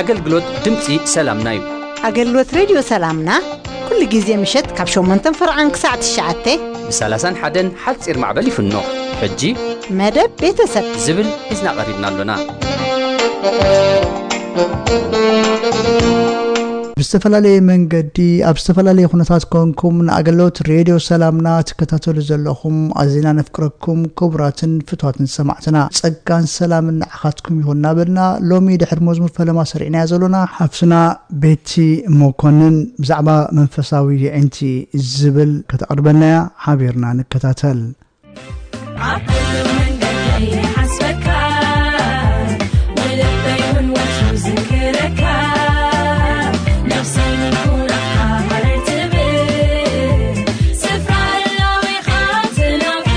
ኣገልግሎት ድምፂ ሰላምና እዩ። ኣገልግሎት ሬድዮ ሰላምና ኩሉ ግዜ ምሸት ካብ 8 ፍርዓን ክሳዕ 9 ብሳላሳን ሓደን ሓፂር ማዕበል ይፍኖ ሕጂ መደብ ቤተሰብ ዝብል ሒዝና ቀሪብና ኣሎና። ብዝተፈላለየ መንገዲ ኣብ ዝተፈላለየ ኩነታት ኮንኩም ንኣገለዎት ሬድዮ ሰላምና ትከታተሉ ዘለኹም ኣዚና ነፍቅረኩም ክቡራትን ፍትዋትን ሰማዕትና ጸጋን ሰላምን ንዓኻትኩም ይኹን እናበልና ሎሚ ድሕሪ መዝሙር ፈለማ ሰሪዕናዮ ዘሎና ሓፍትና ቤቲ ሞኮንን ብዛዕባ መንፈሳዊ የዒንቲ ዝብል ከተቕርበልና እያ ሓቢርና ንከታተል። ኣብ ኩሉ መንገደይ ይሓስበካ ወልበይ ውን ወትሩ ዝክረካ ነብሰይ ንኩራካ ሃረር ትብል ስፍራ ህላዌኻ ትናፍቅ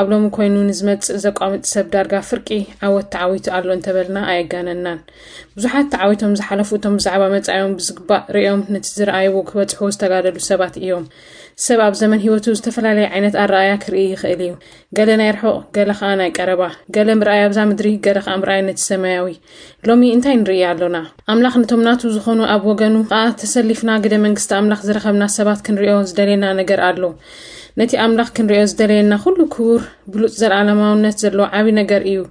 ኣብ ሎሚ ኮይኑ ንዝመጽእ ዘቋምጥ ሰብ ዳርጋ ፍርቂ ዓወት ተዓዊቱ ኣሎ እንተበልና ኣየጋነናን። ብዙሓት ተዓዊቶም ዝሓለፉ እቶም ብዛዕባ መጻኢኦም ብዝግባእ ርእዮም ነቲ ዝረኣይዎ ክበጽሕዎ ዝተጋደሉ ሰባት እዮም። ሰብ ኣብ ዘመን ህይወቱ ዝተፈላለየ ዓይነት ኣረኣያ ክርኢ ይኽእል እዩ። ገለ ናይ ርሑቕ፣ ገለ ከኣ ናይ ቀረባ፣ ገለ ምርኣይ ኣብዛ ምድሪ፣ ገለ ከኣ ምርኣይ ነቲ ሰማያዊ። ሎሚ እንታይ ንርኢ ኣሎና? ኣምላኽ ነቶም ናቱ ዝዀኑ ኣብ ወገኑ ኸኣ ተሰሊፍና ግደ መንግስቲ ኣምላኽ ዝረኸብና ሰባት ክንርእዮ ዝደልየና ነገር ኣሎ። ነቲ ኣምላኽ ክንርእዮ ዝደለየና ዅሉ ክቡር፣ ብሉጽ ዘለኣለማውነት ዘለዎ ዓቢ ነገር ኢዩ።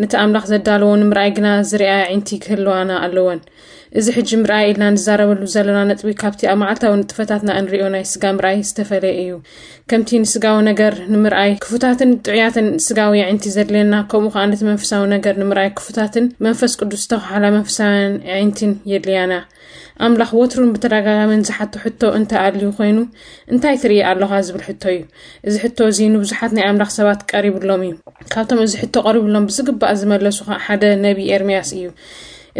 ነቲ ኣምላኽ ዘዳለዎ ንምርኣይ ግና ዝርኣያ ኣዒንቲ ክህልዋና ኣለወን። እዚ ሕጂ ምርኣይ ኢልና ንዛረበሉ ዘሎና ነጥቢ ካብቲ ኣብ መዓልታዊ ንጥፈታትና እንርእዮ ናይ ስጋ ምርኣይ ዝተፈልየ ኢዩ። ከምቲ ንስጋዊ ነገር ንምርኣይ ክፉታትን ጥዑያትን ስጋዊ የዒንቲ ዘድልየና፣ ከምኡ ኸኣ ነቲ መንፈሳዊ ነገር ንምርኣይ ክፉታትን መንፈስ ቅዱስ ዝተዃሓላ መንፈሳውያን የዒንቲን የድልያና። ኣምላኽ ወትሩን ብተደጋጋምን ዝሓቶ ሕቶ እንተ ኣልዩ ኮይኑ እንታይ ትርኢ ኣሎኻ ዝብል ሕቶ እዩ። እዚ ሕቶ እዚ ንብዙሓት ናይ ኣምላኽ ሰባት ቀሪብሎም እዩ። ካብቶም እዚ ሕቶ ቀሪብሎም ብዝግባእ ዝመለሱ ኸኣ ሓደ ነቢ ኤርምያስ እዩ።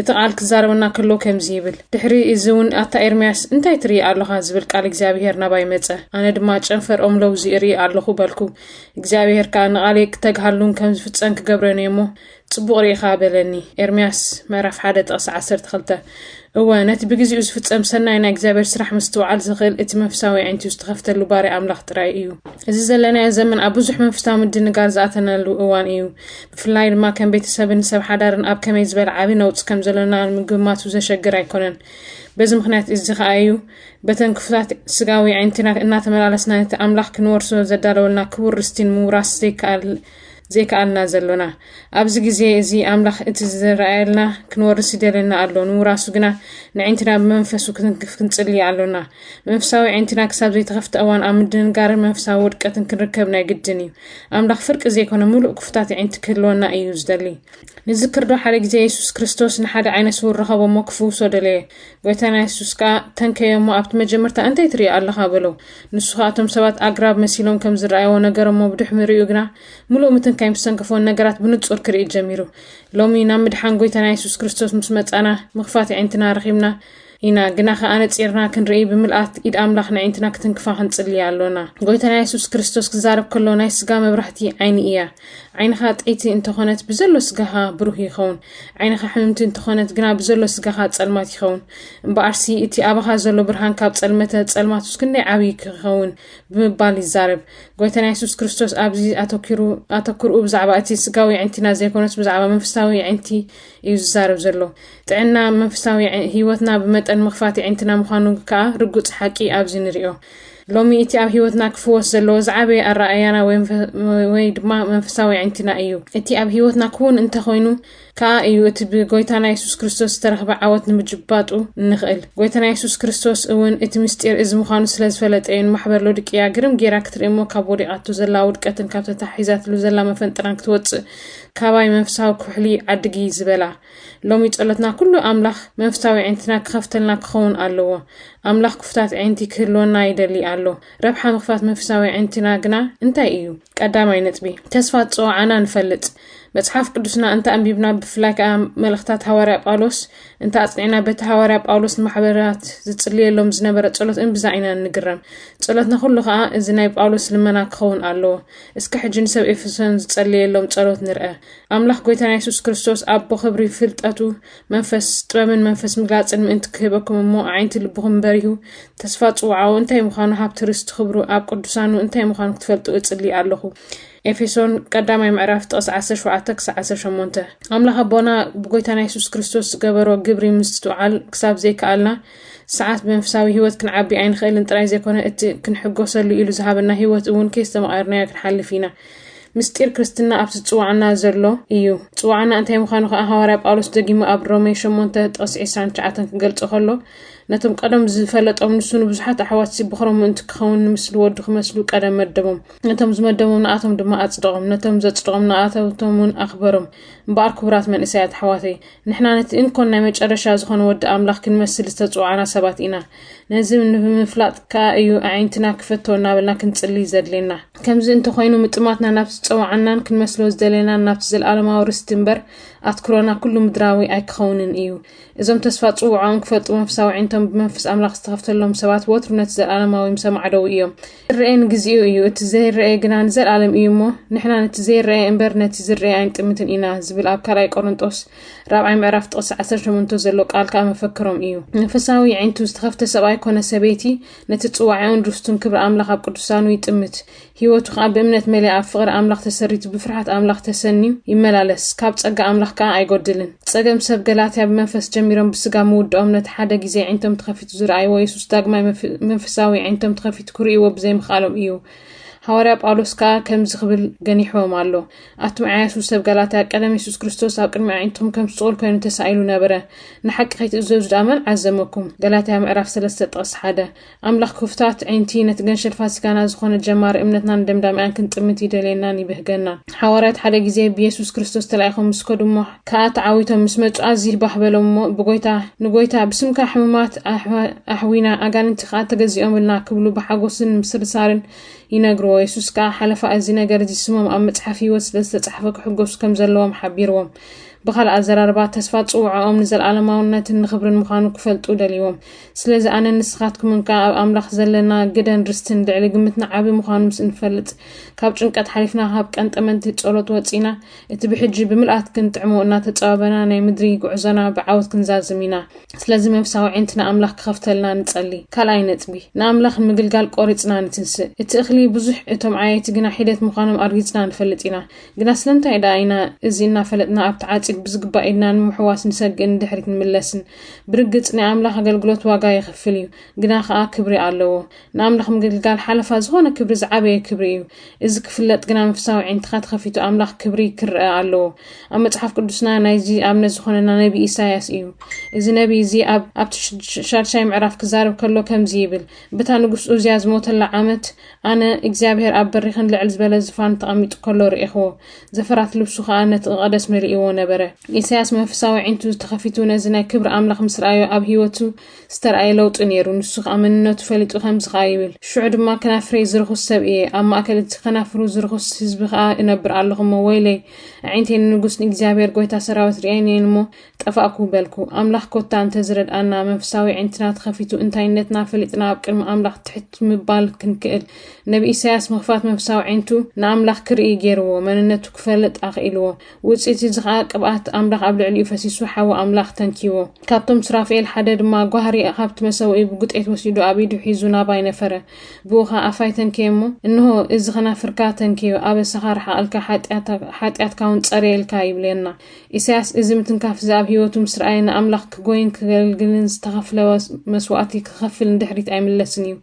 እቲ ቓል ክዛረበና ከሎ ከምዚ ይብል፣ ድሕሪ እዚውን ኣታ ኤርምያስ፣ እንታይ ትርኢ ኣሎኻ? ዝብል ቃል እግዚኣብሄር ናባይ መጸ። ኣነ ድማ ጨንፈር ኦም ለውዚ እርኢ ኣሎኹ በልኩ። እግዚኣብሄር ከኣ ንቓለይ ክተግሃሉን ከም ዝፍጸም ክገብረን እየ እሞ፣ ጽቡቕ ርኢኻ በለኒ። ኤርምያስ ምዕራፍ ሓደ ጥቕሲ ዓሰርተ ክልተ እወ፣ ነቲ ብግዜኡ ዝፍጸም ሰናይ ናይ እግዚኣብሄር ስራሕ ምስትውዓል ዝኽእል እቲ መንፍሳዊ ኣዒንቱ ዝተኸፍተሉ ባርያ ኣምላኽ ጥራይ እዩ። እዚ ዘለናዮ ዘመን ኣብ ብዙሕ መንፍሳዊ ምድንጋር ዝኣተናሉ እዋን እዩ። ብፍላይ ድማ ከም ቤተሰብን ሰብ ሓዳርን ኣብ ከመይ ዝበለ ዓቢ ነውጽ ከም ዘለና ምግማቱ ዘሸግር ኣይኮነን። በዚ ምክንያት እዚ ከኣ እዩ በተን ክፉታት ስጋዊ ዓይነትና እናተመላለስና ነቲ ኣምላኽ ክንወርሶ ዘዳለወልና ክቡር ርስቲ ንምውራስ ዘይከኣል ዘይከኣልና ዘሎና ኣብዚ ግዜ እዚ ኣምላኽ እቲ ዝረኣየልና ክንወርስ ይደለና ኣሎ ንምውራሱ ግና ንዕንትና ብመንፈሱ ክንክፍ ክንጽሊ ኣሎና መንፈሳዊ ዕንትና ክሳብ ዘይተኸፍተ እዋን ኣብ ምድንጋርን መንፈሳዊ ውድቀትን ክንርከብ ናይ ግድን እዩ ኣምላኽ ፍርቂ ዘይኮነ ምሉእ ክፉታት ኣዒንቲ ክህልወና እዩ ዝደሊ። ንዝክርዶ ሓደ ግዜ የሱስ ክርስቶስ ንሓደ ዓይነ ስውር ረኸቦ እሞ ክፍውሶ ደለየ። ጎይታና የሱስ ከኣ ተንከዮ እሞ ኣብቲ መጀመርታ እንታይ ትርኢ ኣለኻ በሎ። ንሱ ከኣ እቶም ሰባት ኣግራብ መሲሎም ከም ዝረኣይዎ ነገረ እሞ ብድሕምሪኡ ግና ምሉእ ምትንካይ ምስ ተንከፎን ነገራት ብንጹር ክርኢ ጀሚሩ። ሎሚ ናብ ምድሓን ጎይታና የሱስ ክርስቶስ ምስ መጻና ምኽፋት ኣዒንትና ረኺብና ኢና ግና ከኣ ነጺርና ክንርኢ ብምልኣት ኢድ ኣምላኽ ነዒንትና ክትንክፋ ክንጽልያ ኣሎና። ጎይታና የሱስ ክርስቶስ ክዛረብ ከሎ ናይ ስጋ መብራህቲ ዓይኒ እያ። ዓይንኻ ጠይቲ እንተኾነት ብዘሎ ስጋኻ ብሩህ ይኸውን። ዓይንኻ ሕምምቲ እንተኾነት ግና ብዘሎ ስጋኻ ጸልማት ይኸውን። እምበኣርሲ እቲ ኣባኻ ዘሎ ብርሃን ካብ ጸልመተ ጸልማቱስ ክንደይ ዓብዪ ክኸውን ብምባል ይዛረብ። ጎይታና የሱስ ክርስቶስ ኣብዚ ኣተኪሩ ኣተክርኡ ብዛዕባ እቲ ስጋዊ የዕንቲና ዘይኮነስ ብዛዕባ መንፈሳዊ የዕንቲ እዩ ዝዛረብ ዘሎ። ጥዕና መንፍሳዊ ህይወትና ብመጠን ምኽፋት የዒንትና ምዃኑ ከኣ ርጉጽ ሓቂ ኣብዚ ንርዮ። ሎሚ እቲ ኣብ ህይወትና ክፍወስ ዘለዎ ዝዓበየ ኣረኣእያና ወይ ድማ መንፈሳዊ የዒንትና እዩ። እቲ ኣብ ህይወትና ክውን እንተኾይኑ ከኣ እዩ እቲ ብጎይታና የሱስ ክርስቶስ ዝተረኽበ ዓወት ንምጅባጡ እንኽእል። ጎይታና የሱስ ክርስቶስ እውን እቲ ምስጢር እዚ ምዃኑ ስለ ዝፈለጠ እዩ ንማሕበር ሎድቅያ ግርም ጌራ ክትርኢ እሞ ካብ ወዲቓቶ ዘላ ውድቀትን ካብ ተታሒዛትሉ ዘላ መፈንጥራን ክትወጽእ ካባይ መንፈሳዊ ኩሕሊ ዓድጊ ዝበላ። ሎሚ ጸሎትና ኩሉ ኣምላኽ መንፍሳዊ ኣዒንትና ክኸፍተልና ክኸውን ኣለዎ። ኣምላኽ ክፉታት ኣዒንቲ ክህልወና ይደሊ ኣሎ። ረብሓ ምኽፋት መንፍሳዊ ኣዒንትና ግና እንታይ እዩ? ቀዳማይ ነጥቢ፣ ተስፋ ዝጸውዓና ንፈልጥ። መጽሓፍ ቅዱስና እንተ ኣንቢብና ብፍላይ ከኣ መልእኽታት ሃዋርያ ጳውሎስ እንተ ኣጽኒዕና በቲ ሃዋርያ ጳውሎስ ንማሕበራት ዝጽልየሎም ዝነበረ ጸሎት እምብዛ ኢና ንግረም። ጸሎትና ኩሉ ከኣ እዚ ናይ ጳውሎስ ልመና ክኸውን ኣለዎ። እስከ ሕጂ ንሰብ ኤፌሶን ዝጸልየሎም ጸሎት ንርአ። ኣምላኽ ጎይታና የሱስ ክርስቶስ ኣቦ ክብሪ ፍልጠቱ መንፈስ ጥበብን መንፈስ ምግላጽን ምእንቲ ክህበኩም እሞ ኣዒንቲ ልብኹም በሪሁ ተስፋ ጽውዓኡ እንታይ ምዃኑ ሃብቲ ርስቲ ክብሩ ኣብ ቅዱሳኑ እንታይ ምዃኑ ክትፈልጡ እጽሊ ኣለኹ ኤፌሶን ቀዳማይ ምዕራፍ ጥቕስ 17 ክሳዕ 18 ኣምላኽ ኣቦና ብጎይታና የሱስ ክርስቶስ ዝገበሮ ግብሪ ምስትውዓል ክሳብ ዘይከኣልና ሰዓት ብመንፈሳዊ ህይወት ክንዓቢ ኣይንኽእልን ጥራይ ዘይኮነ እቲ ክንሕጎሰሉ ኢሉ ዝሃበና ህይወት እውን ከይስተማቐርናዮ ክንሓልፍ ኢና ምስጢር ክርስትና ኣብቲ ዝጽዋዕና ዘሎ እዩ። ጽዋዕና እንታይ ምዃኑ ከኣ ሃዋርያ ጳውሎስ ደጊሙ ኣብ ሮሜ ሸሞንተ ጥቕሲ ዕስራን ትሽዓተን ክገልጾ ከሎ ነቶም ቀደም ዝፈለጦም ንሱ ንብዙሓት ኣሕዋትሲ ብኽሮም ምእንቲ ክኸውን ንምስሊ ወዱ ክመስሉ ቀደም መደቦም ነቶም ዝመደቦም ንኣቶም ድማ ኣጽደቖም ነቶም ዘጽደቖም ንኣተውቶም እውን ኣኽበሮም እምበኣር ክቡራት መንእሰያት ኣሕዋተይ ንሕና ነቲ እንኮን ናይ መጨረሻ ዝኾነ ወዲ ኣምላኽ ክንመስል ዝተጽዋዕና ሰባት ኢና። ነዚ ንምፍላጥ ከኣ እዩ ኣዒንትና ክፈቶ እናበልና ክንጽልይ ዘድልየና። ከምዚ እንተ ኾይኑ ምጥማትና ናብቲ ዝጸውዓናን ክንመስሎ ዝደለናን ናብቲ ዘለኣለማዊ ርስቲ እምበር ኣትኩሮና ኩሉ ምድራዊ ኣይክኸውንን እዩ። እዞም ተስፋ ጽውዖኦም ክፈልጡ መንፈሳዊ ኣዒንቶም ብመንፈስ ኣምላኽ ዝተኸፍተሎም ሰባት ወትሩ ነቲ ዘለኣለማዊ ምሰ ማዕደዉ እዮም። ክርኤ ንግዚኡ እዩ እቲ ዘይረኤ ግና ንዘልኣለም እዩ እሞ ንሕና ነቲ ዘይረኤ እምበር ነቲ ዝረኤ ኣይንጥምትን ኢና ዝብል ኣብ ካልኣይ ቆሮንጦስ ራብዓይ ምዕራፍ ጥቕሲ 18 ዘሎ ቃል ከዓ መፈክሮም እዩ መንፈሳዊ ዓይንቱ ዝተኸፍተ ሰብኣይ ኮነ ሰበይቲ ነቲ ጽዋዕኡን ርስቱን ክብሪ ኣምላኽ ኣብ ቅዱሳኑ ይጥምት ህይወቱ ከዓ ብእምነት መሊኣ ኣብ ፍቕሪ ኣምላኽ ተሰሪቱ ብፍርሓት ኣምላኽ ተሰንዩ ይመላለስ ካብ ጸጋ ኣምላኽ ከዓ ኣይጎድልን ጸገም ሰብ ገላትያ ብመንፈስ ጀሚሮም ብስጋ ምውድኦም ነቲ ሓደ ግዜ ዓይንቶም ተኸፊ ዝረኣይዎ የሱስ ዳግማይ መንፈሳዊ ኣዒንቶም ተኸፊቱ ክርእይዎ ብዘይምኽኣሎም እዩ። ሃዋርያ ጳውሎስ ከኣ ከምዚ ክብል ገኒሕዎም ኣሎ፣ ኣቱም ዓያሱ ሰብ ጋላትያ፣ ቀደም የሱስ ክርስቶስ ኣብ ቅድሚ ኣዒንትኩም ከም ስጹል ኮይኑ ተሳኢሉ ነበረ። ንሓቂ ከይትእዘዙ ደኣ መን ዓዘመኩም? ጋላትያ ምዕራፍ 3 ጥቕስ 1 ኣምላኽ ክፉታት ኣዒንቲ ነቲ ገንሸል ፋሲካና ዝኾነ ጀማሪ እምነትናን ደምዳሚኣን ክንጥምት ይደልየናን ይብህገናን። ሓዋርያት ሓደ ግዜ ብየሱስ ክርስቶስ ተላኢኾም ምስ ከዱ እሞ ከኣ ተዓዊቶም ምስ መጹ ኣዚል ባህ በሎም እሞ ብጎይታ ንጎይታ ብስምካ ሕሙማት ኣሕዊና ኣጋንንቲ ከኣ ተገዚኦምልና ክብሉ ብሓጎስን ምስርሳርን ይነግርዎ የሱስ ከኣ ሓለፋ እዚ ነገር እዚ ስሞም ኣብ መጽሓፍ ህይወት ስለ ዝተጻሕፈ ክሕጎሱ ከም ዘለዎም ሓቢርዎም ብኻልእ ኣዘራርባ ተስፋ ጽውዓኦም ንዘለኣለማውነትን ንኽብርን ምዃኑ ክፈልጡ ደልዎም ስለዚ ኣነ ንስኻትኩምን ከኣ ኣብ ኣምላኽ ዘለና ግደን ርስትን ልዕሊ ግምትና ዓቢ ምዃኑ ምስ እንፈልጥ ካብ ጭንቀት ሓሊፍና ካብ ቀንጠመንቲ ጸሎት ወጺና እቲ ብሕጂ ብምልኣት ክንጥዕሞ እናተጸባበና ናይ ምድሪ ጉዕዞና ብዓወት ክንዛዝም ኢና። ስለዚ መንፍሳዊ ኣዒንትና ኣምላኽ ክኸፍተልና ንጸሊ። ካልኣይ ነጥቢ፣ ንኣምላኽ ንምግልጋል ቆሪጽና ንትንስእ። እቲ እኽሊ ብዙሕ እቶም ዓየይቲ ግና ሒደት ምዃኖም ኣርጊጽና ንፈልጥ ኢና። ግና ስለምንታይ ደኣ ኢና እዚ እናፈለጥና ኣብቲ ዓጺድ ብዝግባእ ኢድና ንምሕዋስ ንሰግእን ንድሕሪት ንምለስን? ብርግጽ ናይ ኣምላኽ ኣገልግሎት ዋጋ የኽፍል እዩ፣ ግና ኸኣ ክብሪ ኣለዎ። ንኣምላኽ ምግልጋል ሓለፋ ዝኾነ ክብሪ ዝዓበየ ክብሪ እዩ። እዚ ክፍለጥ ግና መንፈሳዊ ኣዒንትኻ ተኸፊቱ ኣምላኽ ክብሪ ክርኣ ኣለዎ። ኣብ መጽሓፍ ቅዱስና ናይዚ ኣብነት ዝኾነና ነቢ ኢሳይያስ እዩ። እዚ ነቢ እዚ ኣብ ኣብቲ ሻድሻይ ምዕራፍ ክዛረብ ከሎ ከምዚ ይብል ብታ ንጉስ ኡዝያ ዝሞተላ ዓመት ኣነ እግዚኣብሔር ኣብ በሪኽን ልዕል ዝበለ ዝፋን ተቐሚጡ ከሎ ርኤኽዎ ዘፈራት ልብሱ ከኣ ነቲ ቐደስ መሊእዎ ነበረ። ኢሳይያስ መንፈሳዊ ኣዒንቱ ተኸፊቱ ነዚ ናይ ክብሪ ኣምላኽ ምስ ረኣዮ ኣብ ህይወቱ ዝተራእየ ለውጢ ነይሩ። ንሱ ኸኣ መንነቱ ፈሊጡ ከምዚ ኸኣ ይብል፣ ሽዑ ድማ ከናፍረይ ዝርኹስ ሰብ እየ፣ ኣብ ማእከል እቲ ኸናፍሩ ዝርኹስ ህዝቢ ኸኣ እነብር ኣለኹ እሞ፣ ወይለይ፣ ኣዒንተይ ንንጉስ ንእግዚኣብሄር ጐይታ ሰራዊት ርእየን እየን እሞ፣ ጠፋእኩ በልኩ። ኣምላኽ ኮታ እንተ ዝረድኣና፣ መንፈሳዊ ኣዒንትና ተኸፊቱ እንታይነትና ፈሊጥና ኣብ ቅድሚ ኣምላኽ ትሕት ምባል ክንክእል። ነብዪ ኢሳይያስ ምኽፋት መንፈሳዊ ኣዒንቱ ንኣምላኽ ክርኢ ገይርዎ፣ መንነቱ ክፈልጥ ኣኽኢልዎ። ውጽኢት እዚ ኸኣ ቅብኣት ኣምላኽ ኣብ ልዕሊኡ ፈሲሱ ሓዊ ኣምላኽ ተንኪዎ። ካብቶም ሱራፍኤል ሓደ ድማ ጓህሪ ኻብቲ መሰውኢ ብጕጤት ወሲዱ ኣብ ኢዱ ሒዙ ናባይ ነፈረ። ብእኡ ኸኣ ኣፋይ ተንከየ እሞ፣ እንሆ፣ እዚ ኸናፍርካ ተንከዮ፣ ኣበሳኻ ርሓቐልካ፣ ሓጢኣትካውን ጸርየልካ ይብለና። ኢሳያስ እዚ ምትንካፍ እዚ ኣብ ህይወቱ ምስ ረኣየ ንኣምላኽ ክጐይን ክገልግልን ዝተኸፍለ መስዋእቲ ክኸፍል ንድሕሪት ኣይምለስን እዩ።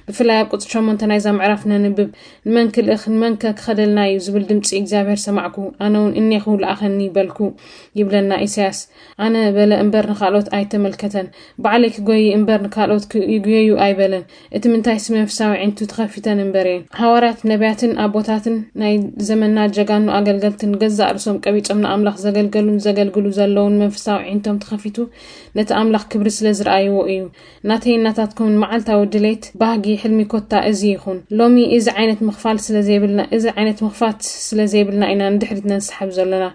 ብፍላይ ኣብ ቍጽሪ ሸሞንተ ናይዛ ምዕራፍ ነንብብ ንመን ክልእኽ ንመንከ ክኸደልና እዩ ዝብል ድምፂ እግዚኣብሔር ሰማዕኩ ኣነ እውን እኔኹ ለኣኸኒ በልኩ ይብለና ኢሳያስ ኣነ በለ እምበር ንካልኦት ኣይተመልከተን ባዕለይ ክጎይ እምበር ንካልኦት ይጉየዩ ኣይበለን እቲ ምንታይስ መንፍሳዊ ዒንቱ ተኸፊተን እምበር እየን ሃዋርያት ነቢያትን ኣቦታትን ናይ ዘመና ጀጋኑ ኣገልገልትን ገዛእ ርእሶም ቀቢፆም ንኣምላኽ ዘገልገሉን ዘገልግሉ ዘለውን መንፈሳዊ ዒንቶም ተኸፊቱ ነቲ ኣምላኽ ክብሪ ስለ ዝረኣይዎ እዩ ናተይን ናታትኩምን መዓልታዊ ድሌት፣ ባህጊ፣ ሕልሚ ኮታ እዚ ይኹን። ሎሚ እዚ ዓይነት ምኽፋል ስለ ዘይብልና እዚ ዓይነት ምኽፋት ስለ ዘይብልና ኢና ንድሕሪት ነንሳሕብ ዘሎና።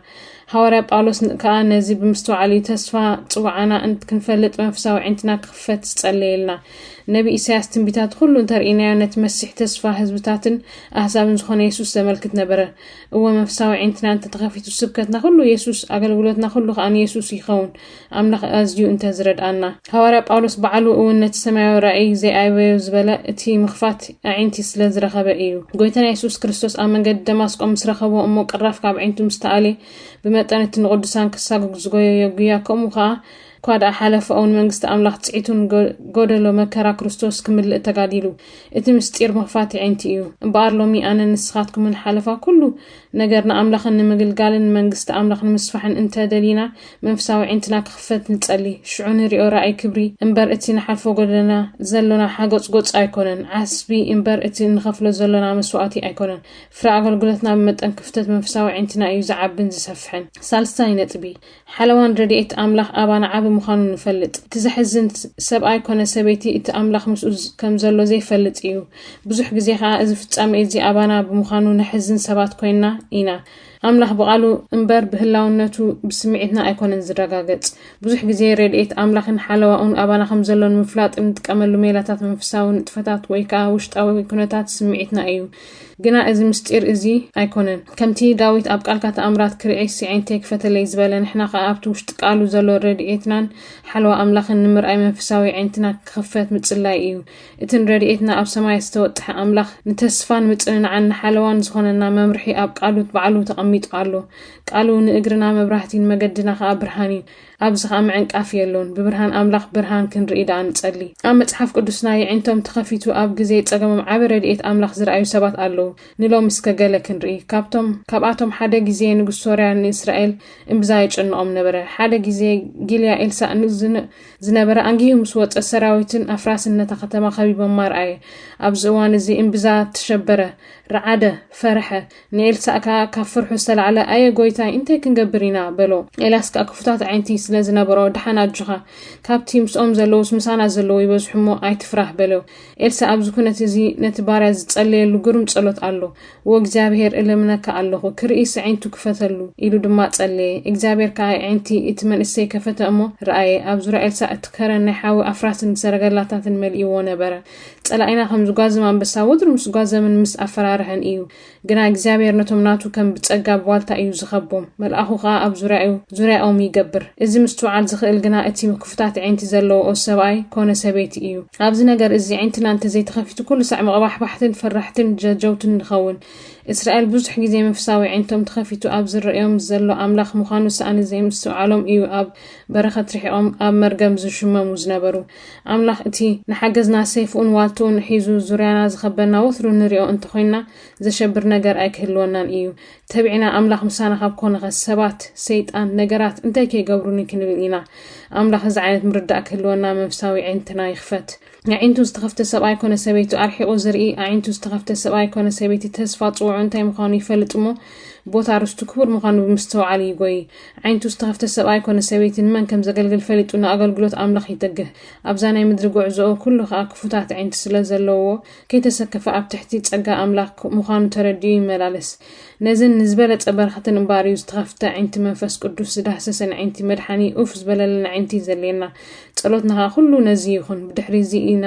ሃዋርያ ጳውሎስ ን ከኣ ነዚ ብምስትውዓል እዩ ተስፋ ጽውዓና እንት ክንፈልጥ መንፈሳዊ ኣዒንትና ክኽፈት ዝጸለየልና። ነቢ ኢሳያስ ትንቢታቱ ኩሉ እንተርኢናዮ ነቲ መሲሕ ተስፋ ህዝብታትን ኣህዛብን ዝኾነ የሱስ ዘመልክት ነበረ። እወ መንፈሳዊ ኣዒንትና እንተ ተኸፊቱ ስብከትና ኩሉ የሱስ ኣገልግሎትና ኩሉ ከኣ ንየሱስ ይኸውን። ኣምላኽ ኣዝዩ እንተ ዝረድኣና። ሃዋርያ ጳውሎስ ባዕሉ እውን ነቲ ሰማያዊ ራእይ ዘይኣበዮ ዝበለ እቲ ምኽፋት ኣዒንቲ ስለ ዝረኸበ ኢዩ። ጎይታና የሱስ ክርስቶስ ኣብ መንገዲ ደማስቆ ምስ ረኸቦ እሞ ቅራፍ ካብ ኣዒንቱ ምስ ተኣልየ ብመጠን እቲ ንቅዱሳን ክሳጉግ ዝጎየዮ ጉያ ከምኡ ከኣ እኳ ደኣ ሓለፋኡ ንመንግስቲ ኣምላኽ ጽዒቱ ንጎደሎ መከራ ክርስቶስ ክምልእ ተጋዲሉ። እቲ ምስጢር ምኽፋት ኣዒንቲ ኢዩ። እምበኣር ሎሚ ኣነን ንስኻትኩምን ሓለፋ ኩሉ ነገር ንኣምላኽን ንምግልጋልን ንመንግስቲ ኣምላኽ ንምስፋሕን እንተ ደሊና መንፍሳዊ ዒንትና ክኽፈት ንጸሊ ሽዑ ንሪኦ ራእይ ክብሪ እምበር እቲ ንሓልፎ ጎደና ዘሎና ሓጎጽጎጽ ኣይኮነን ዓስቢ እምበር እቲ እንኸፍሎ ዘሎና መስዋእቲ ኣይኮነን ፍረ ኣገልግሎትና ብመጠን ክፍተት መንፍሳዊ ዒንትና እዩ ዝዓብን ዝሰፍሕን ሳልሳይ ነጥቢ ሓለዋን ረድኤት ኣምላኽ ኣባና ዓቢ ምዃኑ ንፈልጥ። እቲ ዘሕዝን፣ ሰብኣይ ኰነ ሰበይቲ እቲ ኣምላኽ ምስኡ ከም ዘሎ ዘይፈልጥ ኢዩ። ብዙሕ ግዜ ኸኣ እዚ ፍጻሜ እዚ ኣባና ብምዃኑ ነሕዝን ሰባት ኰይንና ኢና። ኣምላኽ ብቓሉ እምበር ብህላውነቱ ብስምዒትና ኣይኰነን ዝረጋገጽ። ብዙሕ ግዜ ረድኤት ኣምላኽን ሓለዋኡን ኣባና ከም ዘሎ ንምፍላጥ እንጥቀመሉ ሜላታት መንፈሳዊ ንጥፈታት ወይ ከኣ ውሽጣዊ ኵነታት ስምዒትና ኢዩ። ግና እዚ ምስጢር እዚ ኣይኮነን ከምቲ ዳዊት ኣብ ቃልካ ተኣምራት ክርእይሲ ዓይንተይ ክፈተለይ ዝበለ ንሕና ከኣ ኣብቲ ውሽጢ ቃሉ ዘሎ ረድኤትናን ሓልዋ ኣምላኽን ንምርኣይ መንፈሳዊ ዓይንትና ክኽፈት ምጽላይ እዩ እቲ ንረድኤትና ኣብ ሰማያት ዝተወጥሐ ኣምላኽ ንተስፋን ምጽንናዕን ንሓለዋን ዝኾነና መምርሒ ኣብ ቃሉ ባዕሉ ተቐሚጡ ኣሎ ቃሉ ንእግርና መብራህቲን መገድና ከኣ ብርሃን እዩ ኣብዚ ኸኣ ምዕንቃፍ የሎን። ብብርሃን ኣምላኽ ብርሃን ክንርኢ ደኣ ንጸሊ። ኣብ መጽሓፍ ቅዱስና የዒንቶም ተኸፊቱ ኣብ ግዜ ጸገሞም ዓቢ ረድኤት ኣምላኽ ዝረኣዩ ሰባት ኣለዉ። ንሎሚ እስከ ገለ ክንርኢ። ካብቶም ካብኣቶም ሓደ ግዜ ንጉስ ሶርያ ንእስራኤል እምብዛ የጨንቖም ነበረ። ሓደ ግዜ ጊልያ ኤልሳእ ን ዝነበረ ኣንጊሁ ምስ ወጸ ሰራዊትን ኣፍራስን ነታ ከተማ ከቢቦማ ረኣየ። ኣብዚ እዋን እዚ እምብዛ ተሸበረ፣ ረዓደ፣ ፈርሐ። ንኤልሳእ ከኣ ካብ ፍርሑ ዝተላዕለ ኣየ ጎይታይ እንታይ ክንገብር ኢና በሎ ኤልያስ ከኣ ክፉታት ኣዒንቲ ስለ ዝነበሮ ድሓን ኣጆኻ ካብቲ ምስኦም ዘለዉስ ምሳና ዘለዉ ይበዝሑ እሞ ኣይትፍራህ በሎ ኤልሳእ ኣብዚ ኩነት እዚ ነቲ ባርያ ዝጸለየሉ ግሩም ጸሎት ኣሎ እወ እግዚኣብሄር እልምነካ ኣለኹ ክርኢስ ኣዒንቱ ክፈተሉ ኢሉ ድማ ጸለየ እግዚኣብሄር ከኣ ኣዒንቲ እቲ መንእሰይ ከፈተ እሞ ረኣየ ኣብ ዙርያ ኤልሳእ እቲ ከረን ናይ ሓዊ ኣፍራስን ሰረገላታትን መሊእዎ ነበረ ጸላኢና ከም ዝጓዘም ኣንበሳ ወትሩ ምስ ጓዘምን ምስ ኣፈራርሐን እዩ። ግና እግዚኣብሔር ነቶም ናቱ ከም ብጸጋ ብዋልታ እዩ ዝኸቦም፣ መልኣኹ ከኣ ኣብ ዙርያኡ፣ ዙርያኦም፣ ይገብር። እዚ ምስትውዓል ዝኽእል ግና እቲ ክፉታት ኣዒንቲ ዘለውኦ ሰብኣይ ኮነ ሰበይቲ እዩ። ኣብዚ ነገር እዚ ኣዒንትና እንተ ዘይተኸፊቱ ኩሉ ሳዕ መቕባሕባሕትን ፈራሕትን ጀጀውትን ንኸውን። እስራኤል ብዙሕ ግዜ መንፈሳዊ ኣዒንቶም ተኸፊቱ ኣብ ዝረእዮም ዘሎ ኣምላኽ ምዃኑ ሰኣን ዘይምስትውዓሎም እዩ ኣብ በረኸት ርሒቖም ኣብ መርገም ዝሽመሙ ዝነበሩ። ኣምላኽ እቲ ንሓገዝና ሰይፍኡን ዋልትኡን ሒዙ ዙርያና ዝኸበና ወትሩ ንሪኦ እንተኾይንና ዘሸብር ነገር ኣይክህልወናን ኢዩ። ተቢዕና ኣምላኽ ምሳና ካብ ኮነኸ ሰባት፣ ሰይጣን፣ ነገራት እንታይ ከይገብሩኒ ክንብል ኢና። ኣምላኽ እዚ ዓይነት ምርዳእ ክህልወና መንፍሳዊ ኣዒንትና ይኽፈት። ኣዒንቱ ዝተኸፍተ ሰብኣይ ኮነ ሰበይቱ ኣርሒቑ ዝርኢ፣ ኣዒንቱ ዝተኸፍተ ሰብኣይ ኮነ ሰበይቲ ተስፋ ጽውዑ እንታይ ምዃኑ ይፈልጥ እሞ ቦታ ርስቱ ክቡር ምዃኑ ብምስተውዓል ይጎይ። ኣዒንቱ ዝተኸፍተ ሰብኣይ ኰነ ሰበይቲ ንመን ከም ዘገልግል ፈሊጡ ንኣገልግሎት ኣምላኽ ይትግህ። ኣብዛ ናይ ምድሪ ጕዕዞኡ ኵሉ ኸኣ ክፉታት ኣዒንቲ ስለ ዘለዉዎ፣ ከይተሰከፈ ኣብ ትሕቲ ጸጋ ኣምላኽ ምዃኑ ተረዲኡ ይመላለስ። ነዘን ንዝበለጸ በረኸትን እምበኣር እዩ ዝተኸፍተ ኣዒንቲ መንፈስ ቅዱስ ዝዳህሰሰን ኣዒንቲ መድሓኒ ኡፍ ዝበለለን ኣዒንቲ ዘድልየና። ጸሎትና ኸኣ ዅሉ ነዚ ይኹን። ብድሕሪ እዚ ኢና።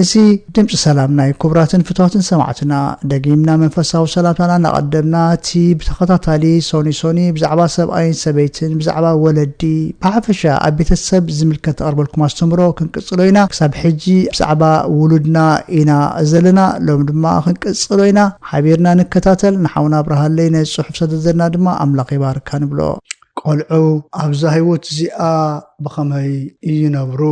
እዚ ድምጺ ሰላምና ዩ ኩቡራትን ፍትዋትን ሰማዕትና ደጊምና መንፈሳዊ ሰላምታና እናቀደምና እቲ ብተኸታታሊ ሶኒ ሶኒ ብዛዕባ ሰብኣይን ሰበይትን ብዛዕባ ወለዲ ብሓፈሻ ኣብ ቤተሰብ ዝምልከት ተቅርበልኩም ኣስተምሮ ክንቅጽሎ ኢና ክሳብ ሕጂ ብዛዕባ ውሉድና ኢና ዘለና ሎሚ ድማ ክንቅጽሎ ኢና ሓቢርና ንከታተል ንሓውና ኣብርሃለይ ነዚ ጽሑፍ ሰደደልና ድማ ኣምላኽ ይባርካ ንብሎ። ቆልዑ ኣብዛ ህይወት እዚኣ ብኸመይ ይነብሩ?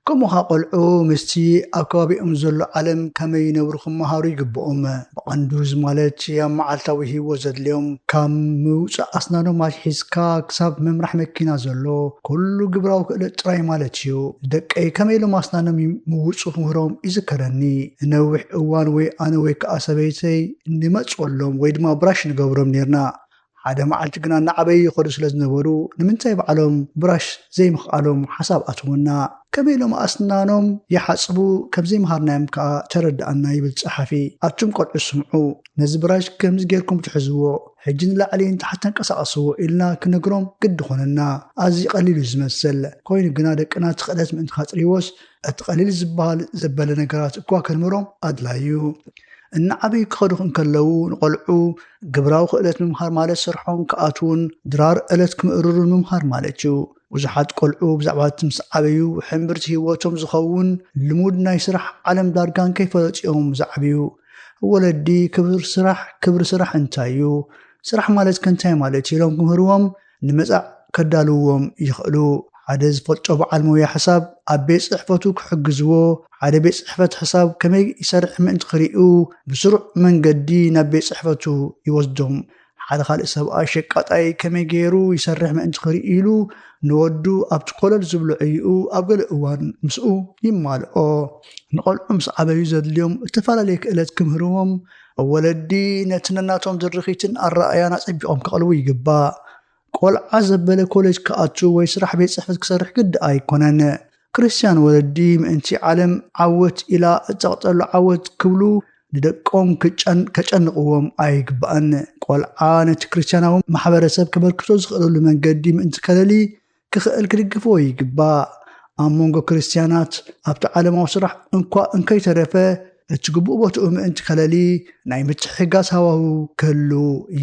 ከምኡ ኸኣ ቈልዑ ምስቲ ኣብ ከባቢኦም ዘሎ ዓለም ከመይ ይነብሩ ክመሃሩ ይግብኦም። ብቐንዱ እዚ ማለት ኣብ መዓልታዊ ህይወት ዘድልዮም ካብ ምውጻእ ኣስናኖም ኣትሒዝካ ክሳብ ምምራሕ መኪና ዘሎ ኩሉ ግብራዊ ክእለት ጥራይ ማለት እዩ። ንደቀይ ከመይ ኢሎም ኣስናኖም ይምውጹ ክምህሮም ይዝከረኒ። ንነዊሕ እዋን ወይ ኣነ ወይ ከኣ ሰበይተይ ንመጽወሎም ወይ ድማ ብራሽ ንገብሮም ኔርና። ሓደ መዓልቲ ግና እናዓበዩ ይኸዱ ስለ ዝነበሩ ንምንታይ ባዕሎም ብራሽ ዘይምኽኣሎም ሓሳብ ኣተወና። ከመይ ኢሎም ኣስናኖም ይሓጽቡ ከም ዘይመሃርናዮም ከኣ ተረድኣና ይብል ጸሓፊ። ኣቱም ቆልዑ ስምዑ፣ ነዚ ብራሽ ከምዚ ጌርኩም ትሕዝዎ፣ ሕጂ ንላዕሊ ንታሕቲ ተንቀሳቐስዎ ኢልና ክነግሮም ግዲ ኮነና። ኣዝዩ ቀሊል እዩ ዝመስል፣ ኮይኑ ግና ደቅና እቲ ክእለት ምእንቲ ከጥርይዎስ እቲ ቀሊል ዝበሃል ዘበለ ነገራት እኳ ከንምህሮም ኣድላዪ እዩ። እናዓበዩ ክኸዱ እንከለዉ ንቆልዑ፣ ግብራዊ ክእለት ምምሃር ማለት ስርሖም ክኣትዉን ድራር ዕለት ክምእርሩን ምምሃር ማለት እዩ። ብዙሓት ቆልዑ ብዛዕባ እቲ ምስ ዓበዩ ሕምብርቲ ህይወቶም ዝኸውን ልሙድ ናይ ስራሕ ዓለም ዳርጋ እንከይፈለጡ እዮም ዝዓብዩ። ወለዲ ክብሪ ስራሕ ክብሪ ስራሕ እንታይ እዩ? ስራሕ ማለትከ እንታይ ማለት እዩ? ኢሎም ክምህርዎም ንመጻዕ ከዳልውዎም ይኸእሉ። ሓደ ዝፈልጦ በዓል ሞያ ሕሳብ ኣብ ቤት ጽሕፈቱ ክሕግዝዎ፣ ሓደ ቤት ጽሕፈት ሕሳብ ከመይ ይሰርሕ ምእንቲ ክርእዩ ብስሩዕ መንገዲ ናብ ቤት ጽሕፈቱ ይወስዶም። ሓደ ካልእ ሰብኣይ ሸቃጣይ ከመይ ገይሩ ይሰርሕ ምእንቲ ክርእዩሉ ንወዱ ኣብቲ ኮለል ዝብሎ ዕዩኡ ኣብ ገለ እዋን ምስኡ ይማልኦ። ንቆልዑ ምስ ዓበዩ ዘድልዮም እተፈላለየ ክእለት ክምህርዎም ወለዲ ነቲ ነናቶም ዝርኺትን ኣረኣያን ኣጸቢቖም ከቕልቡ ይግባእ። ቆልዓ ዘበለ ኮለጅ ክኣቱ ወይ ስራሕ ቤት ጽሕፈት ክሰርሕ ግዲ ኣይኮነን። ክርስትያን ወለዲ ምእንቲ ዓለም ዓወት ኢላ እትጸቕጠሉ ዓወት ክብሉ ንደቆም ከጨንቕዎም ኣይግባእን። ቆልዓ ነቲ ክርስትያናዊ ማሕበረሰብ ከበርክቶ ዝኽእለሉ መንገዲ ምእንቲ ከለሊ ክኽእል ክድግፍዎ ይግባእ። ኣብ መንጎ ክርስትያናት ኣብቲ ዓለማዊ ስራሕ እንኳ እንከይተረፈ እቲ ግቡእ ቦትኡ ምእንቲ ከለሊ ናይ ምትሕግጋዝ ሃዋህው ክህሉ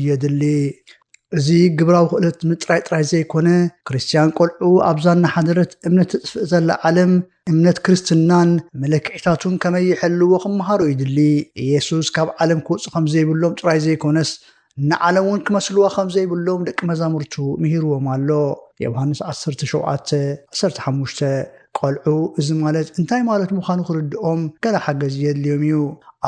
የድሊ። እዚ ግብራዊ ክእለት ምጥራይ ጥራይ ዘይኮነ ክርስትያን ቆልዑ ኣብዛ እናሓደረት እምነት ተጥፍእ ዘላ ዓለም እምነት ክርስትናን መለክዒታቱን ከመይ ይሕልዎ ክመሃሩ ይድሊ። ኢየሱስ ካብ ዓለም ክወጹ ከም ዘይብሎም ጥራይ ዘይኮነስ ንዓለም እውን ክመስልዋ ከም ዘይብሎም ደቂ መዛሙርቱ ምሂርዎም ኣሎ። ዮውሃንስ ዓሰርተ ሸውዓተ፣ ዓሰርተ ሓሙሽተ፣ ቈልዑ እዚ ማለት እንታይ ማለት ምዃኑ ክርድኦም ገለ ሓገዝ የድልዮም ኢዩ።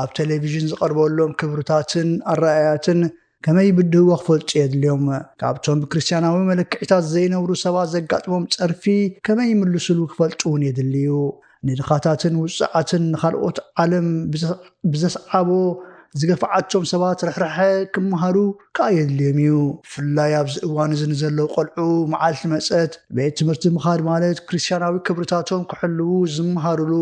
ኣብ ተለቪዥን ዝቐርበሎም ክብርታትን ኣረኣእያትን ከመይ ይብድህዎ ክፈልጡ የድልዮም። ካብቶም ብክርስትያናዊ መለክዒታት ዘይነብሩ ሰባት ዘጋጥሞም ጸርፊ ከመይ ይምልሱሉ ክፈልጡ እውን የድሊ ኢዩ። ንድኻታትን ውጹዓትን ንኻልኦት ዓለም ብዘስዓቦ ዝገፍዓቶም ሰባት ርሕራሐ ክመሃሩ ከኣ የድልዮም እዩ። ብፍላይ ኣብዚ እዋን እዚ ንዘለዉ ቆልዑ፣ መዓልቲ መጸት ቤት ትምህርቲ ምኻድ ማለት ክርስትያናዊ ክብርታቶም ክሕልዉ ዝመሃሩሉ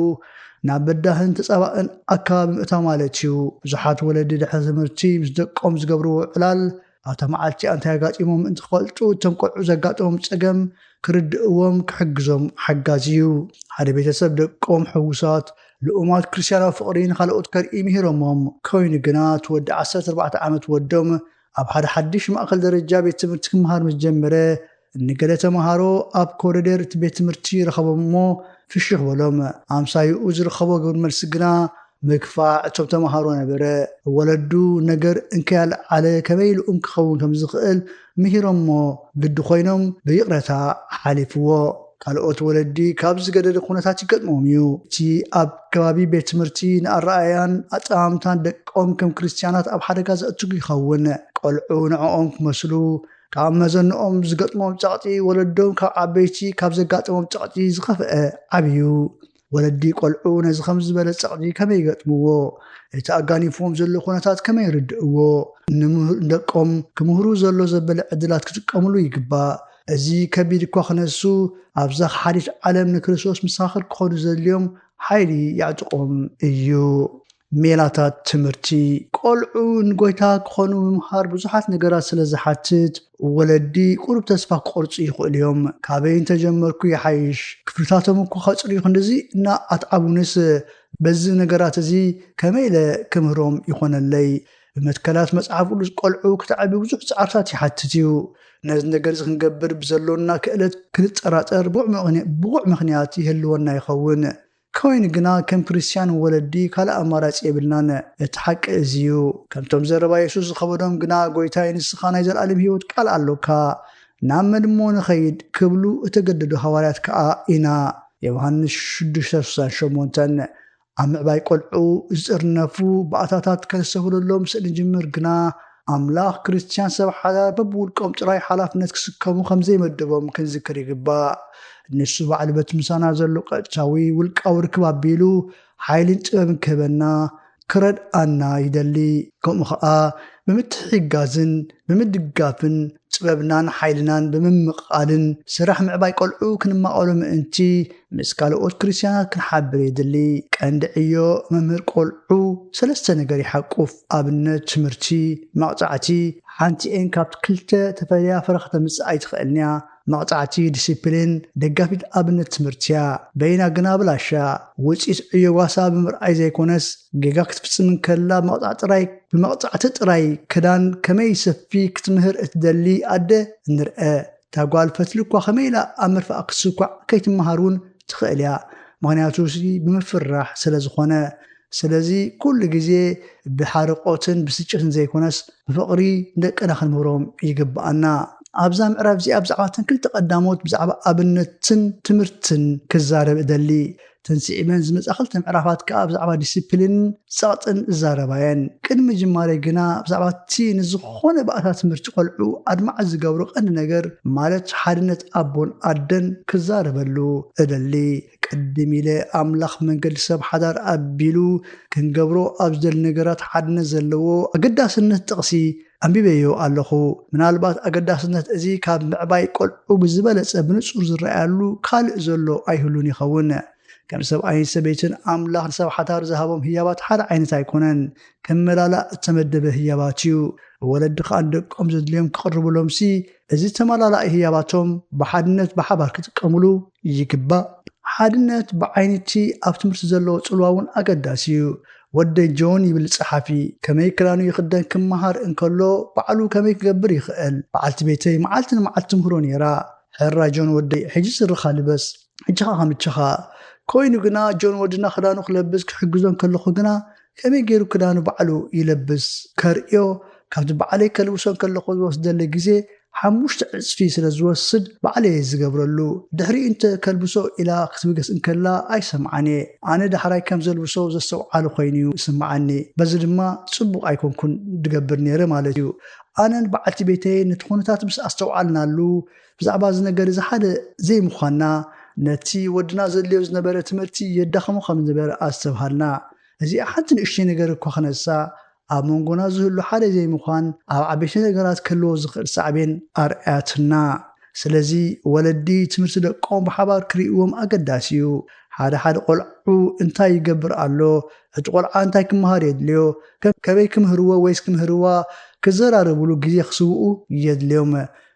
ናብ በዳህን ተጻባእን ኣከባቢ ምእታው ማለት እዩ። ብዙሓት ወለዲ ድሕሪ ትምህርቲ ምስ ደቆም ዝገብርዎ ዕላል፣ ኣብታ መዓልቲ ኣንታይ ኣጋጢሞም ምእንቲ ክፈልጡ እቶም ቆልዑ ዘጋጠሞም ጸገም ክርድእዎም ክሕግዞም ሓጋዚ እዩ። ሓደ ቤተሰብ ደቆም ሕዉሳት ልኡማት ክርስትያናዊ ፍቕሪ ንኻልኦት ከርኢ ምሂሮሞም ኮይኑ ግና እቲ ወዲ ዓሰርተ ኣርባዕተ ዓመት ወዶም ኣብ ሓደ ሓድሽ ማእከል ደረጃ ቤት ትምህርቲ ክመሃር ምስ ጀመረ ንገለ ተመሃሮ ኣብ ኮሪደር እቲ ቤት ትምህርቲ ረኸቦም እሞ ፍሽኽ በሎም። ኣምሳይኡ ዝርኸቦ ግብሪ መልሲ ግና ምግፋዕ እቶም ተመሃሮ ነበረ። ወለዱ ነገር እንከያልዓለ ከመይ ኢሉ እም ክኸውን ከም ዝኽእል ምሂሮሞ ግዲ ኮይኖም ብይቕረታ ሓሊፍዎ። ካልኦት ወለዲ ካብ ዝገደደ ኩነታት ይገጥሞም እዩ። እቲ ኣብ ከባቢ ቤት ትምህርቲ ንኣረኣእያን ኣጠማምታን ደቆም ከም ክርስትያናት ኣብ ሓደጋ ዘእትግ ይኸውን። ቆልዑ ንዕኦም ክመስሉ ካብ መዘንኦም ዝገጥሞም ጸቕጢ ወለዶም ካብ ዓበይቲ ካብ ዘጋጥሞም ጸቕጢ ዝኸፍአ ዓብዩ። ወለዲ ቆልዑ ነዚ ከም ዝበለ ጸቕጢ ከመይ ይገጥምዎ? እቲ ኣጋኒፍዎም ዘሎ ኩነታት ከመይ ይርድእዎ? ንደቆም ክምህሩ ዘሎ ዘበለ ዕድላት ክጥቀምሉ ይግባእ። እዚ ከቢድ እኳ ክነሱ ኣብዛ ከሓዲት ዓለም ንክርስቶስ መሰኻኽር ክኾኑ ዘድልዮም ሓይሊ የዕጥቖም እዩ። ሜላታት ትምህርቲ፣ ቈልዑ ንጐይታ ክዀኑ ምምሃር ብዙሓት ነገራት ስለ ዝሓትት፣ ወለዲ ቍሩብ ተስፋ ክቖርጹ ይኽእሉ እዮም። ካበይ እንተ ጀመርኩ ይሓይሽ? ክፍልታቶም እኮ ከጽርዩ ኽንድዚ እና ኣትዓቡንስ፣ በዚ ነገራት እዚ ከመይ ኢለ ክምህሮም ይዀነለይ? ብመትከላት መጽሓፍ ቅዱስ ቈልዑ ክተዕቢ ብዙሕ ጻዕርታት ይሓትት እዩ። ነዚ ነገር እዚ ክንገብር ብዘሎና ክእለት ክንጠራጠር ብቑዕ ምኽንያት ይህልወና ይኸውን። ኮይኑ ግና ከም ክርስትያን ወለዲ ካልእ ኣማራጺ የብልናን። እቲ ሓቂ እዚ እዩ። ከምቶም ዘረባ የሱስ ዝኸበዶም ግና ጎይታይ ንስኻ ናይ ዘልኣለም ህይወት ቃል ኣሎካ፣ ናብ መን እሞ ንኸይድ? ክብሉ እተገደዱ ሃዋርያት ከኣ ኢና። ዮውሃንስ ሽዱሽተ ስሳን ሸሞንተን። ኣብ ምዕባይ ቆልዑ ዝጥርነፉ ባእታታት ከነስተብህለሎም ስእንጅምር ግና፣ ኣምላኽ ክርስትያን ሰብ ሓዳር በብውልቆም ጥራይ ሓላፍነት ክስከሙ ከም ዘይመደቦም ክንዝክር ይግባእ። ንሱ ባዕሉ በቲ ምሳና ዘሎ ቀጥታዊ ውልቃዊ ርክብ ኣቢሉ ሓይልን ጥበብን ክህበና፣ ክረድኣና፣ ይደሊ። ከምኡ ኸኣ ብምትሕግጋዝን ብምድጋፍን ጥበብናን ሓይልናን ብምምቕቓልን ስራሕ ምዕባይ ቆልዑ ክንማቐሉ ምእንቲ ምስ ካልኦት ክርስትያናት ክንሓብር የድሊ። ቀንዲ ዕዮ መምህር ቆልዑ ሰለስተ ነገር ይሓቁፍ፣ ኣብነት፣ ትምህርቲ፣ መቕጻዕቲ። ሓንቲኤን ካብቲ ክልተ ተፈልያ ፍረ ከተምጽእ ኣይትኽእልን'ያ። መቕጻዕቲ፣ ዲሲፕሊን፣ ደጋፊት ኣብነት ትምህርቲ'ያ። በይና ግና ብላሻ። ውጽኢት ዕዮ ጓሳ ብምርኣይ ዘይኮነስ ጌጋ ክትፍጽም እንከላ ምቕጻዕ ጥራይ ብመቕጻዕቲ ጥራይ ክዳን ከመይ ሰፊ ክትምህር እትደሊ ኣደ እንርኣ። እታ ጓል ፈትሊ እኳ ከመይ ኢላ ኣብ ምርፋእ ክትስኳዕ ከይትመሃር እውን ትኽእል እያ፣ ምኽንያቱ እዚ ብምፍርራሕ ስለ ዝኾነ። ስለዚ ኩሉ ግዜ ብሓርቖትን ብስጭትን ዘይኮነስ ብፍቕሪ ንደቅና ክንምህሮም ይግብኣና። ኣብዛ ምዕራፍ እዚኣ ብዛዕባ እተን ክልተ ቀዳሞት ብዛዕባ ኣብነትን ትምህርትን ክዛረብ እደሊ። እተን ስዒበን ዝመጻ ክልተ ምዕራፋት ከኣ ብዛዕባ ዲሲፕሊንን ጸቕጥን ዝዛረባ እየን። ቅድሚ ምጅማረይ ግና ብዛዕባ እቲ ንዝኾነ ባእታ ትምህርቲ ቆልዑ ኣድማዒ ዝገብሮ ቀንዲ ነገር ማለት ሓድነት ኣቦን ኣደን ክዛረበሉ እደሊ። ቅድም ኢለ ኣምላኽ መንገዲ ሰብ ሓዳር ኣቢሉ ክንገብሮ ኣብ ዝደሊ ነገራት ሓድነት ዘለዎ ኣገዳስነት ጥቕሲ ኣንቢበዮ ኣለኹ። ምናልባት ኣገዳስነት እዚ ካብ ምዕባይ ቈልዑ ብዝበለጸ ብንጹር ዝረኣያሉ ካልእ ዘሎ ኣይህሉን ይኸውን። ከም ሰብኣይን ሰበይትን፣ ኣምላኽ ንሰብ ሓዳር ዝሃቦም ህያባት ሓደ ዓይነት ኣይኰነን። ክመላላእ እተመደበ ህያባት እዩ። ወለዲ ኸኣ ንደቆም ዘድልዮም ክቕርቡሎምሲ፣ እዚ ተመላላኢ ህያባቶም ብሓድነት ብሓባር ክጥቀሙሉ ይግባእ። ሓድነት ብዓይኒ'ቲ ኣብ ትምህርቲ ዘለዎ ጽልዋ እውን ኣገዳሲ እዩ። ወደይ ጆን ይብል ጸሓፊ ከመይ ክዳኑ ይኽደን ክመሃር እንከሎ ባዕሉ ከመይ ክገብር ይኽእል በዓልቲ ቤተይ መዓልቲ ንመዓልቲ ትምህሮ ነይራ ሕራይ ጆን ወደይ ሕጂ ስርኻ ልበስ ሕጂኻ ከምቸኻ ኮይኑ ግና ጆን ወድና ክዳኑ ክለብስ ክሕግዞ እንከለኹ ግና ከመይ ገይሩ ክዳኑ ባዕሉ ይለብስ ከርእዮ ካብቲ ባዕለይ ከልብሶ እንከለኹ ዝወስደለይ ግዜ ሓሙሽተ ዕጽፊ ስለ ዝወስድ ባዕለየ ዝገብረሉ ድሕሪኡ እንተ ከልብሶ ኢላ ክትብገስ እንከላ ኣይሰምዓን እየ ኣነ ዳሕራይ ከም ዘልብሶ ዘስተውዓለ ኮይኑ እዩ ዝስምዓኒ በዚ ድማ ጽቡቕ ኣይኮንኩን ድገብር ነይረ ማለት እዩ ኣነን በዓልቲ ቤተይን ነቲ ኩነታት ምስ ኣስተውዓልናሉ ብዛዕባ እዚ ነገር እዚ ሓደ ዘይምዃንና ነቲ ወድና ዘድልዮ ዝነበረ ትምህርቲ የዳኽሞ ከም ዝነበረ ኣስተብሃልና እዚኣ ሓንቲ ንእሽተይ ነገር እኳ ክነሳ ኣብ መንጎና ዝህሉ ሓደ ዘይምዃን ኣብ ዓበይቲ ነገራት ክህልዎ ዝኽእል ሳዕቤን ኣርኣያትና። ስለዚ ወለዲ ትምህርቲ ደቆም ብሓባር ክርእይዎም ኣገዳሲ እዩ። ሓደ ሓደ ቆልዑ እንታይ ይገብር ኣሎ፣ እቲ ቆልዓ እንታይ ክመሃር የድልዮ፣ ከመይ ክምህርዎ ወይስ ክምህርዋ ክዘራረብሉ ግዜ ክስውኡ የድልዮም።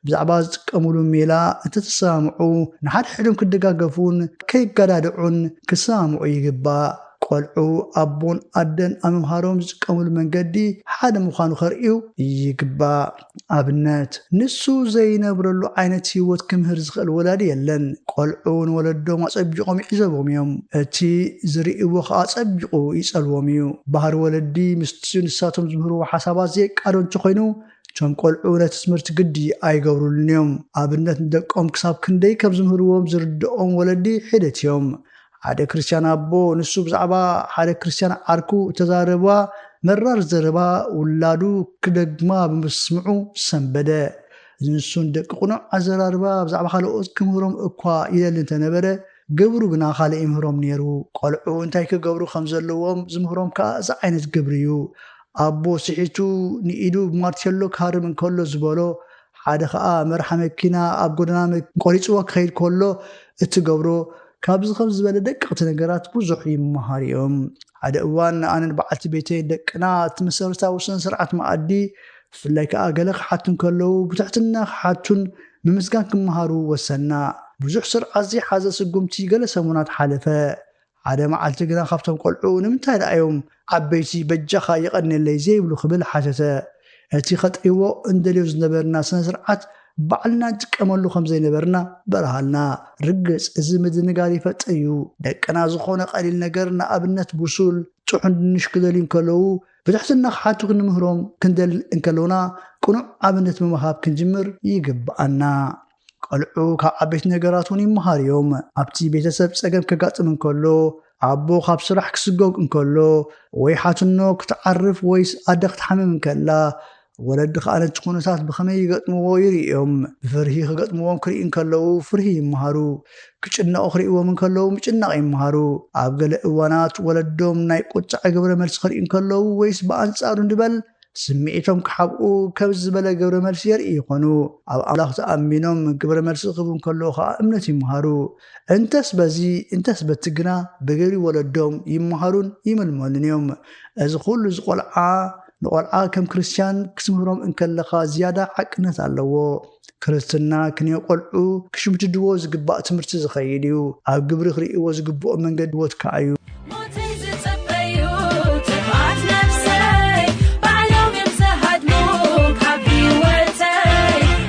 ብዛዕባ ዝጥቀሙሉ ሜላ እንተተሰማምዑ ንሓድሕዶም ክደጋገፉን ከይገዳድዑን ክሰማምዑ ይግባእ። ቆልዑ ኣቦን ኣደን ኣብ ምምሃሮም ዝጥቀሙሉ መንገዲ ሓደ ምዃኑ ከርእዩ ይግባእ። ኣብነት፣ ንሱ ዘይነብረሉ ዓይነት ህይወት ክምህር ዝኽእል ወላዲ የለን። ቆልዑ ንወለዶም ኣጸቢቖም ይዕዘብዎም እዮም። እቲ ዝርእይዎ ከኣ ኣጸቢቑ ይጸልዎም እዩ። ባህሪ ወለዲ ምስቲ ንሳቶም ዝምህርዎ ሓሳባት ዘይቃዶ እንተኾይኑ፣ እቶም ቆልዑ ነቲ ትምህርቲ ግዲ ኣይገብሩሉን እዮም። ኣብነት ንደቆም ክሳብ ክንደይ ከም ዝምህርዎም ዝርድኦም ወለዲ ሒደት እዮም። ሓደ ክርስትያን ኣቦ ንሱ ብዛዕባ ሓደ ክርስትያን ዓርኩ እተዛረባ መራር ዘረባ ውላዱ ክደግማ ብምስምዑ ሰንበደ። እዚ ንሱ ንደቂ ቅኑዕ ኣዘራርባ ብዛዕባ ካልኦት ክምህሮም እኳ ይደሊ እንተነበረ፣ ግብሩ ግና ካልእ ይምህሮም ነይሩ። ቈልዑ እንታይ ኪገብሩ ኸም ዘለዎም ዚምህሮም ከኣ እዚ ዓይነት ግብሪ እዩ። ኣቦ ስሒቱ ንኢዱ ብማርቴሎ ኪሃርም እንከሎ ዝበሎ፣ ሓደ ኸኣ መርሓ መኪና ኣብ ጐደና ቈሪጽዎ ኪኸይድ ከሎ እትገብሮ፣ ካብዚ ኸምዚ ዝበለ ደቀቕቲ ነገራት ብዙሕ ይመሃሩ እዮም። ሓደ እዋን ኣነን በዓልቲ ቤተይን ደቅና እቲ መሰረታዊ ስነ-ስርዓት መኣዲ ብፍላይ ከኣ ገለ ክሓቱ እንከለዉ ብትሕትና ክሓቱን ምምስጋን ክመሃሩ ወሰንና። ብዙሕ ስርዓት ዘይሓዘ ስጉምቲ ገለ ሰሙናት ሓለፈ። ሓደ መዓልቲ ግና ካብቶም ቆልዑ ንምንታይ ደኣ እዮም ዓበይቲ በጃኻ የቐንየለይ ዘይብሉ ክብል ሓተተ። እቲ ከጥርይዎ እንደልዮ ዝነበርና ስነ ስርዓት ባዕልና ንጥቀመሉ ከም ዘይነበርና በርሃልና። ርግጽ እዚ ምድንጋር ይፈጥር እዩ። ደቅና ዝኾነ ቀሊል ነገር ንኣብነት ብሱል፣ ጥሑን ድንሽ ክደልዩ እንከለዉ ብትሕትና ክሓቱ ክንምህሮም ክንደል እንከሎና ቅኑዕ ኣብነት ብምሃብ ክንጅምር ይግብኣና። ቘልዑ ካብ ዓበይቲ ነገራት እውን ይመሃሩ እዮም። ኣብቲ ቤተሰብ ጸገም ከጋጥም እንከሎ፣ ኣቦ ካብ ስራሕ ክስጐግ እንከሎ፣ ወይ ሓትኖ ክትዓርፍ ወይስ ኣደ ክትሓምም እንከላ፣ ወለድኻ ነቲ ኩነታት ብኸመይ ይገጥምዎ ይርእዮም። ብፍርሂ ክገጥምዎም ክርኢ እንከለዉ ፍርሂ ይመሃሩ። ክጭነቑ ክርእዎም እንከለዉ ምጭናቕ ይመሃሩ። ኣብ ገለ እዋናት ወለዶም ናይ ቁጥዐ ግብረ መልሲ ክርእዩ እንከለዉ ወይስ ብኣንጻሩ ንበል ስምዒቶም ክሓብኡ ከምዚ ዝበለ ግብረ መልሲ የርእዩ ይኾኑ። ኣብ ኣምላኽ ተኣሚኖም ግብረ መልሲ ክህቡ እንከለዉ ከኣ እምነት ይመሃሩ። እንተስ በዚ እንተስ በቲ ግና ብግብሪ ወለዶም ይመሃሩን ይምልመሉን እዮም። እዚ ኩሉ እዚ ቆልዓ ንቆልዓ ከም ክርስትያን ክትምህሮም እንከለኻ ዝያዳ ሓቅነት ኣለዎ። ክርስትና ክንዮ ቆልዑ ክሽምድድዎ ዝግባእ ትምህርቲ ዝኸይድ እዩ። ኣብ ግብሪ ክርእይዎ ዝግብኦም መንገዲ ህይወት ከኣ እዩ። ሞተይ ዝጽበዩ ጥፍኣት ነፍሰይ ባዕሎም እዮም ዝሃድሙ ካብ ህይወተይ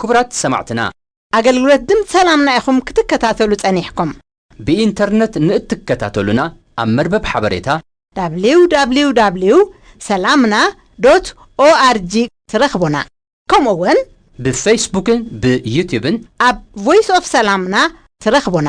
ክቡራት ሰማዕትና! ኣገልግሎት ድምጽ ሰላምና ኢኹም ክትከታተሉ ጸኒሕኩም። ብኢንተርነት ንእትከታተሉና ኣብ መርበብ ሓበሬታ። www ሰላምና org ትረኽቡና። ከምኡ'ውን። ብፈይስቡክን ብዩትዩብን። ኣብ ቮይስ ኦፍ ሰላምና ትረኽቡና።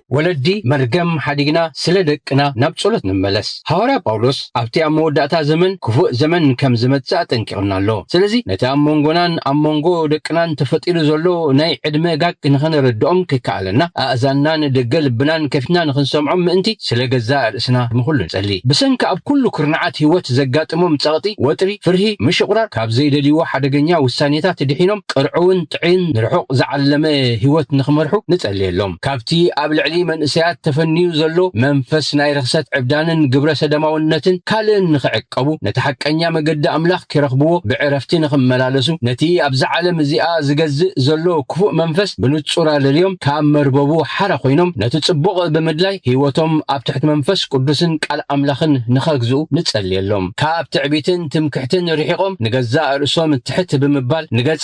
ወለዲ መርገም ሓዲግና ስለ ደቅና ናብ ጸሎት ንመለስ። ሃዋርያ ጳውሎስ ኣብቲ ኣብ መወዳእታ ዘመን ክፉእ ዘመን ከም ዝመጽእ ኣጠንቂቑና ኣሎ። ስለዚ ነቲ ኣብ መንጎናን ኣብ መንጎ ደቅናን ተፈጢሩ ዘሎ ናይ ዕድመ ጋግ ንኸነረድኦም ከይከኣለና ኣእዛንናን ደገ ልብናን ከፊትና ንኽንሰምዖም ምእንቲ ስለ ገዛእ ርእስና ንኹሉ ንጸሊ። ብሰንኪ ኣብ ኩሉ ኩርናዓት ህይወት ዘጋጥሞም ጸቕጢ፣ ወጥሪ፣ ፍርሂ፣ ምሽቝራር፣ ካብ ዘይደልይዎ ሓደገኛ ውሳኔታት ድሒኖም ቅርዑውን ጥዕይን ንርሑቕ ዝዓለመ ህይወት ንኽመርሑ ንጸልየሎም። ካብቲ ኣብ ልዕሊ መንእሰያት ተፈንዩ ዘሎ መንፈስ ናይ ርኽሰት ዕብዳንን ግብረ ሰደማውነትን ካልእን ንኽዕቀቡ፣ ነቲ ሓቀኛ መገዲ ኣምላኽ ኪረኽብዎ ብዕረፍቲ ንኽመላለሱ፣ ነቲ ኣብዛ ዓለም እዚኣ ዚገዝእ ዘሎ ክፉእ መንፈስ ብንጹር ኣለልዮም ካብ መርበቡ ሓራ ኮይኖም ነቲ ጽቡቕ ብምድላይ ህይወቶም ኣብ ትሕቲ መንፈስ ቅዱስን ቃል ኣምላኽን ንኸግዝኡ ንጸልየሎም። ካብ ትዕቢትን ትምክሕትን ርሒቖም ንገዛእ ርእሶም ትሕት ብምባል ንገጸ